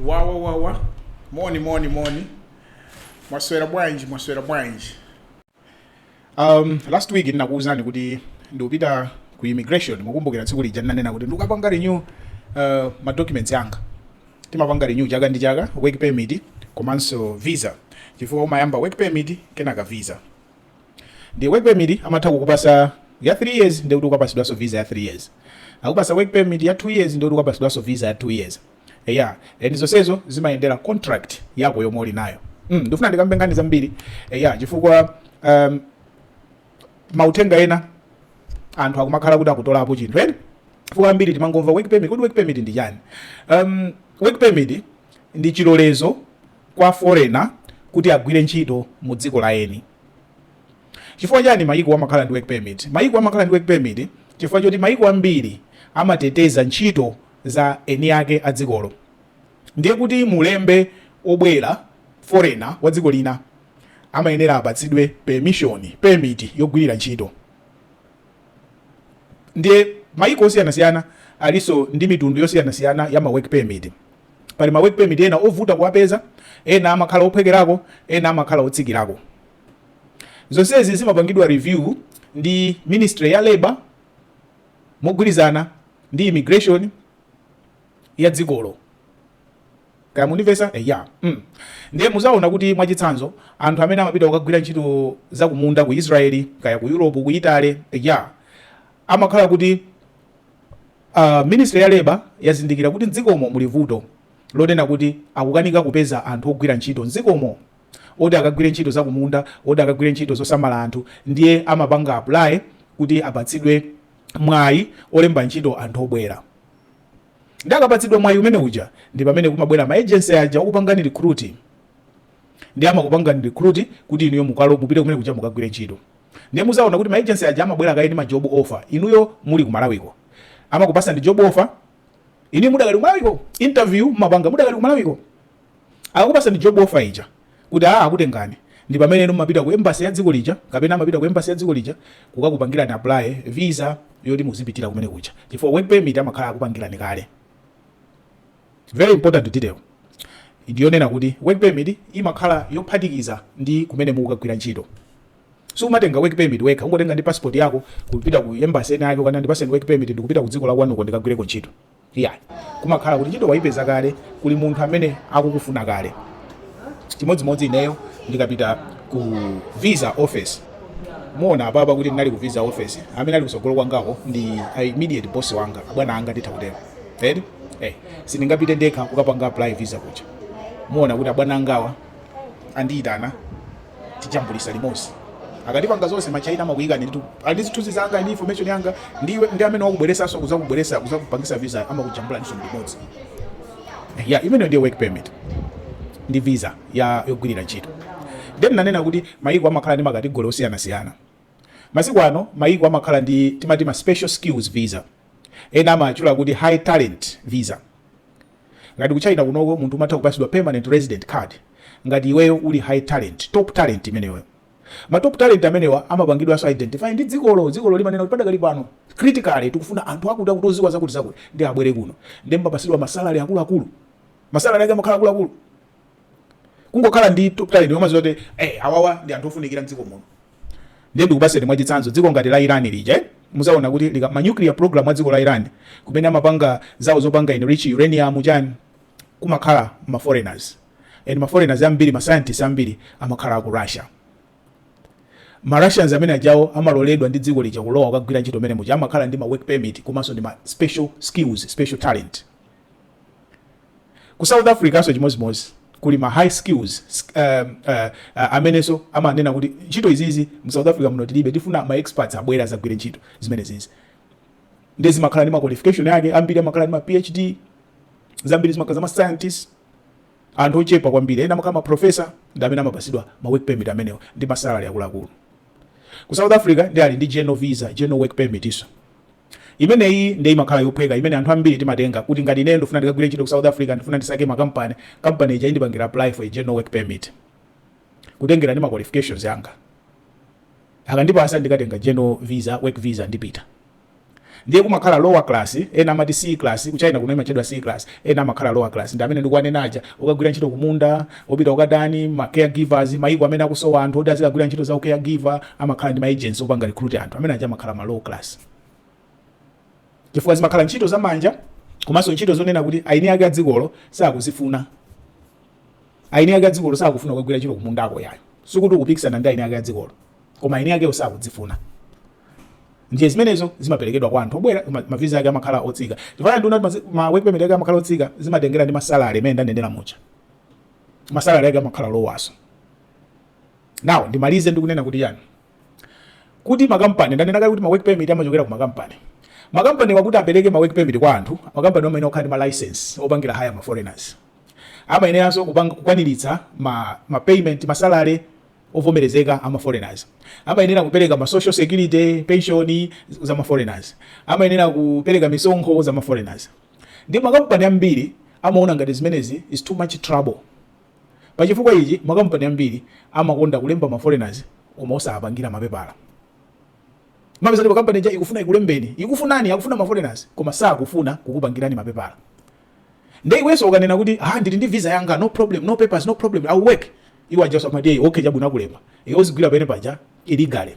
Wawa wawa moni moni moni mwaswera bwanji mwaswera bwanji um, last week ndinakuwuzani kuti ndikupita ku immigration mukumbukira tsiku lija ndinanena kuti ndikukapanga renew uh, ma documents anga timapanga renew chaka ndi chaka work permit komanso visa chifukwa umayamba work permit kenaka visa ndi work permit amatha kukupasa ya 3 years ndikuti ukapasidwanso visa ya 3 years akupasa work permit ya 2 years ndikuti ukapasidwanso visa ya 2 years eya and zonsezo zimayendera contract yako yomwe uli nayo mm, ndifuna ndikambe nkhani zambiri eya chifukwa um, mauthenga ena anthu akumakhala kuti akutolapo chinthu eti chifukwa ambiri timangomva work permit kodi work permit ndi chani um, work permit ndi chilolezo kwa foreigner kuti agwire ntchito mu dziko la eni chifukwa chani mayiko amakhala ndi work permit mayiko amakhala ndi work permit chifukwa choti mayiko ambiri amateteza ntchito za eni ake a dzikolo ndiye kuti mulembe obwera foreigner wa dziko lina amayenera apatsidwe permission permit yogwirira ntchito ndiye mayiko osiyanasiyana alinso ndi mitundu yosiyanasiyana ya ma work permit pali ma work permit ena ovuta kuwapeza ena amakhala ophwekerako ena amakhala otsikirako zonsezi zimapangidwa review ndi ministry ya labor mogwirizana ndi immigration ya dzikolo kaya mundimvesa eh, ya mm. ndiye muzaona kuti mwachitsanzo anthu amene amapita kukagwira ntchito za kumunda ku israeli kaya ku europe ku italy eh, ya amakhala kuti ministry ya labour yazindikira kuti mdzikomo muli vuto lonena kuti akukanika kupeza anthu ogwira ntchito mdzikomo oti akagwire ntchito za kumunda, oti akagwire ntchito zosamala anthu ndiye amapanga apply kuti apatsidwe mwayi olemba ntchito anthu obwera ndiye akapatsidwa mwayi umene uja ndi pamene kumabwera ma agency aja okupangani recruit ndiye amakupangani recruit kuti inuyo muka mupite kumene kuja mukagwire ntchito. ndiye muzaona kuti ma agency aja amabwera kaye ndi ma job offer inuyo muli ku Malawi ko amakupasani job offer inu mudakali ku Malawi ko interview mumapanga mudakali ku Malawi ko akakupasani job offer ija kuti ah akutengani ndi pamene inu mumapita ku embassy ya dziko lija kapena amapita ku embassy ya dziko lija kukakupangirani apply visa yoti muzipitira kumene kuja chifukwa work permit amakhala akupangirani kale Very important detail ndi yonena kuti work permit imakhala yophatikiza ndi kumene mukukagwira ntchito. Sumatenga work permit wekha, ungotenga ndi passport yako kupita ku embassy ena yake kukanena ndipaseni work permit ndikupita ku dziko la kwanuko ndikagwireko ntchito. Iyayi. Kumakhala kuti ntchito waipeza kale, kuli munthu amene akukufuna kale. Chimodzimodzi ineyo ndikapita ku visa office muona apapa kuti ndinali ku visa office amene ali kusogolo kwangako ndi a immediate boss wanga abwana anga nditha kutero eti? eh, sindingapite ndekha kukapanga apply visa kuja muona kuti abwana angawa andiyitana tijambulisa limodzi akatipanga zonse machaina amakuyikani nditu ali zithunzi zanga ndi information yanga ndiwe ndi amene wakubweresanso kuzakubweresa kuzakupangisa visa amakujambula ndiso limodzi Eh, ya imeneyo ndiye work permit ndi visa ya yogwirira ntchito then nanena kuti mayiko amakhala ndi makategori osiyanasiyana Masiku ano mayiko amakhala ndi timati ma special skills visa, ena amawatchula kuti high talent visa. Ngati ku China kunoko munthu umatha kupasidwa permanent resident card ngati iweyo uli high talent, top talent imeneyoyo. Ma top talent amenewa amapangidwanso identify ndi dzikolo, dzikolo limanena kuti padakali pano critically tikufuna anthu akuti akuti oziwa zakuti zakuti nde abwere kuno. Ndiye mumapasidwa ma salary akuluakulu, ma salary ake amakhala akuluakulu. kungokhala ndi top talent umaziwa kuti eh awawa ndi anthu ofunikira mdziko muno ndiye ndikupaseni mwa chitsanzo dziko ngati la Iran lija eh? muzaona kuti like ma nuclear program a dziko la Iran kumene amapanga zawo zopanga enrich uranium chani kumakhala ma foreigners and ma foreigners ambiri ma scientists ambiri amakhala aku Russia ma Russians amene ajawo amaloledwa ndi dziko lija kulowa kukagwira ntchito mene muja amakhala ndi ma work permit komanso ndi ma special skills special talent Ku South Africanso chimodzimodzi kuli ma high skills uh, uh, uh, amenenso amanena kuti ntchito izizi mu South Africa muno tilibe, tifuna ma experts abwere azagwire ntchito zimenezizi nde zimakhala ndi ma qualification yake, ambiri amakhala ndi ma PhD, zambiri zimakhala za ma scientists anthu ochepa kwambiri ena amakhala ma professor ndi amene amapasidwa ma work permit amenewo ndi ma salary akuluakulu. Ku South Africa nde ali ndi general visa, general work permitnso. Imeneyi nde imakhala yophweka imene anthu ambiri timatenga kuti ngati ineyo ndufuna ndikagwire ntchito ku South Africa ndifuna ndisake ma company, company ija indipangira apply for a general work permit kutengera ndi ma qualifications anga. Akandipasa ndikatenga general visa, work visa ndipita. Ndiye kumakhala lower class, ena amati C class, ku China kuno imatchedwa C class, ena amakhala lower class ndi amene ndikuwanena aja okagwira ntchito kumunda, Opita ngati ma care givers, mayiko amene akusowa anthu oti azikagwira ntchito za u care giver amakhala ndi ma agents opanga recruit anthu. Amene aja amakhala ma low class. Chifukwa zimakhala ntchito za manja komanso ntchito zonena kuti aini ake a dzikolo sakuzifuna. Aini ake a dzikolo sakufuna kukagwira ntchito kumundako yayo. Sikuti ukupikisana ndi aini ake a dzikolo. Koma aini akewo sakuzifuna. Ndiye zimenezo zimaperekedwa kwa anthu obwera ma- maviza ake amakhala otsika. Chifukwa ndunena kuti ma work permit ake amakhala otsika zimatengera ndi masalary amene ndanenera muja. masalari ake amakhala lowanso now ndimalize ndikunena kuti chani kuti makampani ndanena kale kuti ma work permit amachokera ku makampani makampaniwa kuti apereke ma work permit kwa anthu makampani amayenera kukhala ndi ma license opangira hire ma foreigners amayeneranso kukwaniritsa ma, ma payment masalare ovomerezeka ama foreigners amayenera kupereka ma social security pension za ma foreigners amayenera kupereka misonkho za ma foreigners Ndiye makampani ambiri amaona ngati zimenezi is too much trouble. Pa chifukwa ichi makampani ambiri amakonda kulemba ma foreigners koma osawapangira mapepala. Mumapeza kuti kampani ija ikufuna ikulembeni, ikufunani, akufuna ma foreigners koma sakufuna kukupangirani mapepala. Ndiye iwenso ukanena kuti ha ndili ndi visa yanga no problem, no papers, no problem, I will work. Iwo ajanso amati hey, okay chabwino akulemba. Iwe uzigwira pene paja illegally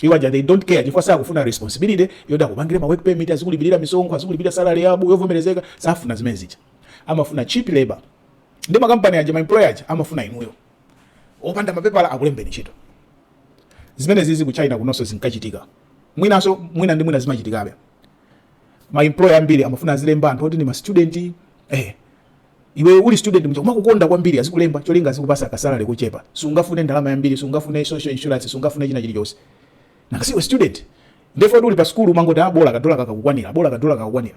iwo aja they don't care chifukwa sakufuna responsibility yoti akupangire ma work permit azikulipirira misonkho azikulipira salary yabho yovomerezeka safuna zimene zija amafuna cheap labor ndiye makampani aja ma employer aja amafuna inuyo opanda mapepala akulembeni ntchito zimene zizi ku china kunonso zinkachitika mwinanso mwina ndi mwina zimachitikabe ma employer ambiri amafuna azilemba anthu oti ndi ma student eh Iwe uli student muja amakukonda kwambiri azikulemba cholinga azikupasa kasalary kochepa. Sungafune ndalama yambiri, sungafune social insurance, sungafune china chilichonse. Nanga siwe student. Ndipo uli pa school umangoti ah bola kadola kakukwanira, bola kadola kakukwanira.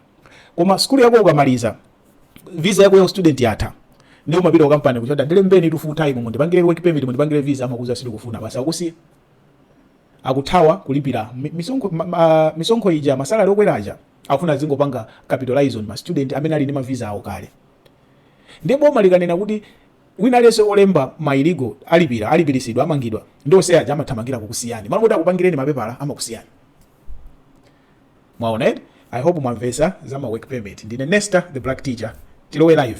Koma school yako ukamaliza visa yako ya student yatha. Ndiye umapita ku company kuja kuti ndilembenitu full time mungu ndipangire work permit mundipangire visa amakuuza sitikufuna basi akusiya. akuthawa kulipira mi, misonkho, ma, ma, misonkho ija masalari okwera aja akufuna azingopanga capitalize on ma student amene ali ndi mavisa awo kale ndiye boma likanena kuti wina aliyense olemba ma illegal alipira alipirisidwa amangidwa ndi onse aja amathamangira kukusiyani malo kuti akupangireni mapepala amakusiyani mwaona eti i hope mwamvesa za ma work permit ndine nesta the black teacher tilowe live